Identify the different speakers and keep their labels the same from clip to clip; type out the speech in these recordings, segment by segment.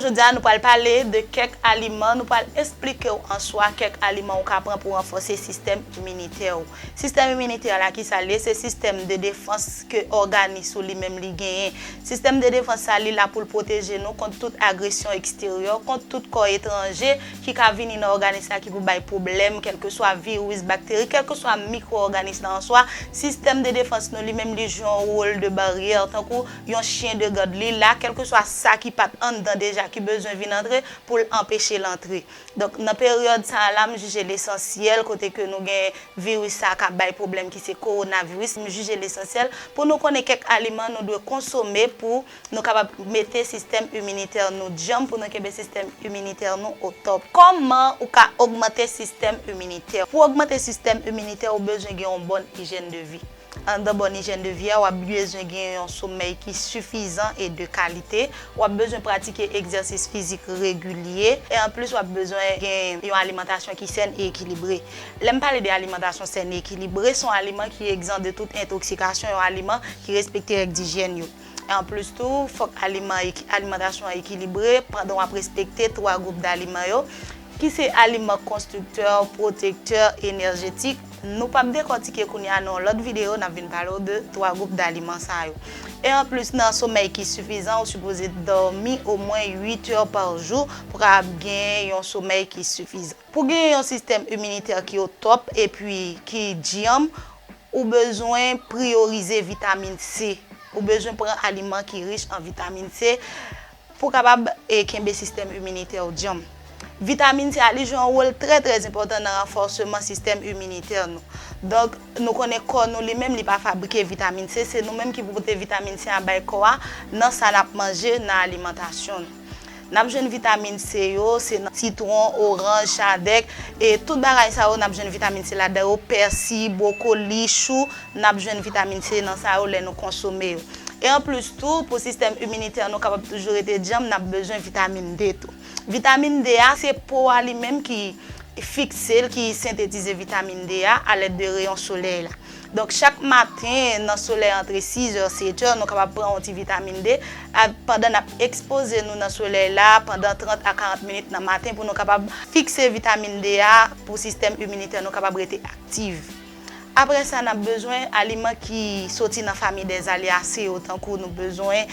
Speaker 1: Jodi a nou pral pale de kèk aliman, nou pral esplike w an swa kèk aliman ou ka pran pou ranfòse sistèm iminitè ou. Sistèm iminitè la ki sa l ye? Se sistèm de defans ke òganis ou li menm li genyen. Sistèm de defans sa li la pou l pwoteje nou kont tout agresyon eksteryè, kont tout kò etranje ki ka vini nan òganis la ki pou bay pwoblèm, kèlkeswa viris, bakteri, kèlkeswa mikwo òganis la an swa, sistèm de defans nou li menm li jwe yon wol de baryè tankou. yon chyen de gad li la kèlkeswa sa ki pat anndan deja ki bezwen vin antre pou l anpeche l antre. Donk nan peryòd sa a la m jije l esansyèl kote ke nou gen viris sa a ka bay pwoblèm ki se kowonaviris m jije l esansyèl pou nou konnen kèk aliman nou dwe konsome pou nou kapab mete sistèm iminitè nou djanm pou nou kenbe sistèm iminitè nou otòp. Kòman ou ka ogmante sistèm iminitè? Pou ogmante sistèm iminitè ou bezwen gen yon bòn ijyèn de vi. Anndan bon ijèn de vi a, w ap bezwen gen yon somèy ki sifizan e de kalite, w ap bezwen pratike egzèsis fizik regilye, e anplis w ap bezwen gen yon alimantasyon ki sèn e ekilibre. Lè m pale de alimantasyon sèn e ekilibre, se yon aliman ki egzan de tout entoksikasyon, yon aliman ki respekte règ dijyèn yo. E anplis tou, fòk alimantasyon an ekilibre pandan w ap respekte twa gwoup daliman yo, ki se aliman konstriktè, pwotektè, enèjetik, nou pap dekòtike kounye a nan yon lòt videyo nap vin pale w de 3 gwoup daliman sa yo. E anplis nan somèy ki sifizan ou sipoze dòmi omwen 8 è pa jou pou kapab gen yon somèy ki sifizan. Pou gen yon sistèm iminitè ki otòp epi ki dyanm ou bezwen priyorize vitamin C, ou bezwen pran aliman ki rich an vitamin C, Pou w kapab kenbe sistèm iminitè w djanm. Vitamin sa a li jwe yon wòl trè trè enpòtan nan ranfòseman sistèm iminitè nou. Donk, nou konnen kò nou li menm li pa fabrike vitamin C, se nou menm ki pou pote vitamin C a bay kò a nan sa n ap manje, nan alimantasyon nou. N ap jwenn vitamin C yo, se nan sitwon, oranj, chadèk, e tout bagay sa yo n ap jwenn vitamin C ladan yo, pèsi, bwokoli, chou. N ap jwenn vitamin C nan sa yo lè nou konsome yo. E anplis tou, pou sistèm iminitè nou kapab toujou rete djanm, n ap bezwen vitamin D tou. Vitamin D a, se po a li menm ki fikse l, ki sentetize vitamin D a alèd de reyon solèy la. Donk chak maten nan solèy antre sizè, setè, nou kapab pran yon ti vitamin D pandan n ap ekspoze nou nan solèy la pandan 30 a 40 minit nan maten pou nou kapab fikse vitamin D a pou sistèm iminitè nou kapab rete aktiv. Apre sa, n ap bezwen aliman ki soti nan famiy dè alyase yo tankou nou bezwen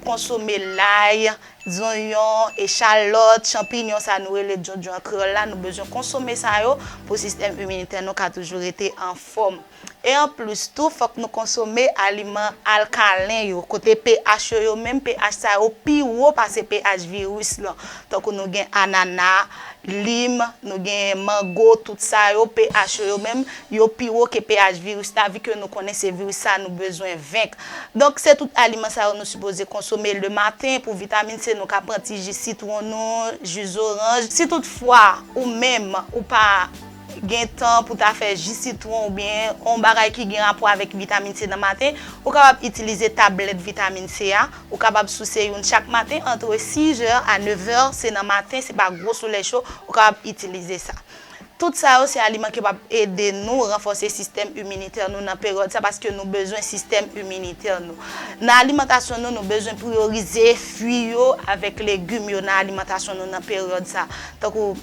Speaker 1: konsome lay, zonyon, echalòt, chanpinyon sa nou rele djondjon an kreyòl la, nou bezwen konsome sa yo pou sistèm iminitè nou ka toujou rete anfòm. E anplis tou fòk nou konsome aliman alkalen yo kote pH yo yo menm pH sa yo pi wo pase pH viris lan tankou nou gen anana, Lim, nou genyen mango, tout sa yo, pH yo yo menm, yo pi wo ke pH viris la vi ke nou konnen se viris sa nou bezwen venk. Donk se tout aliman sa yo nou sipoze konsome le maten pou vitamin C nou ka pran ti ji sitwon nou, ji zoranj. Si tout fwa ou menm ou pa. gen tan pou ta fè ji sitwon oubyen yon bagay ki gen rapò avèk vitamin C nan maten, ou kapab itilize tablèt vitamin C a, ou kapab souse youn chak maten antre 6 zè a 9 zè, se nan maten se pa gwo solèy cho, ou kapab itilize sa. Tout sa yo se aliman ki kapab ede nou ranfòse sistèm iminitè nou nan peryòd sa paske nou bezwen sistèm iminitè nou. Nan alimantasyon nou, nou bezwen priyorize fwi yo avèk legim yo nan alimantasyon nou nan peryòd sa tankou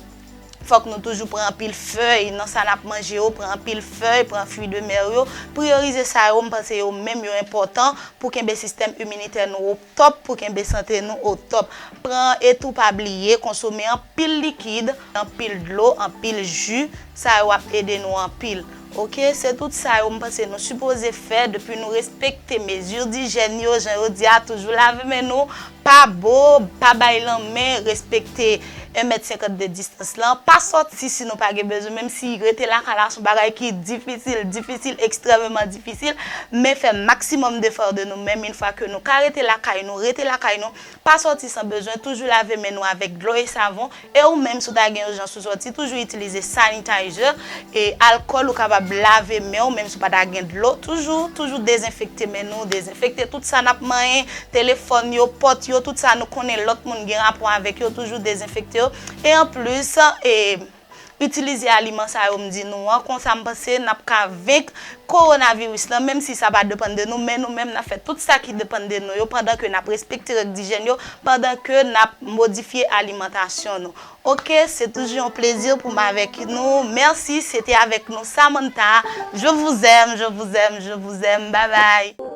Speaker 1: Fòk nou toujou pran anpil fèy nan sa nap manje yo, pran anpil fèy, pran fui de mè yo, priyorize sa yo, m panse yo menm yo enpòtan pou kenbe sistèm iminitè nou o top, pou kenbe sante nou o top. Pran e tou pa bliye konsome anpil likid, anpil dlo, anpil ju, sa yo ap ede nou anpil. Ok se tout sa yo m panse nou sipoze fè depi nou respekte mezi dijèn yo jan yo di a toujou lave men nou pa bo pa bay lanmen respekte 1 mèt 52 distans lan pa sòti si nou pa gen bezwen menm si rete lakay la son bagay ki difisil difisil ekstrèmeman difisil men fè maksimòm defò de nou menm in fwa ke nou ka rete lakay nou rete lakay nou Pa sòti san bezwen, toujou lave men nou avèk dlo e savon, e ou menm si w ta gen ijans pou sòti, toujou itilize sanitizer e alkòl, ou kapab lave men w menm si w pa ta gen dlo, toujou, toujou dezenfekte men nou, dezenfekte tout sa n ap manyen, telefòn yo, pòt yo, tout sa nou konnen lòt moun gen rapò avèk yo, toujou dezenfekte yo, e anplis, e. Itilize aliman sa yo m di nou an, konsa m panse n ap ka venk kowonaviris lan, menm si sa pa depann de nou, men nou menm n ap fè tout sa ki depann de nou yo, pandan ke n ap respekte règ dijèn yo, pandan ke n ap modifye alimantasyon nou. Ok, se toujou yon plezi pou m avèk nou, mèsi, se te avèk nou Samantha, je vous aime, je vous aime, je vous aime, bye bye.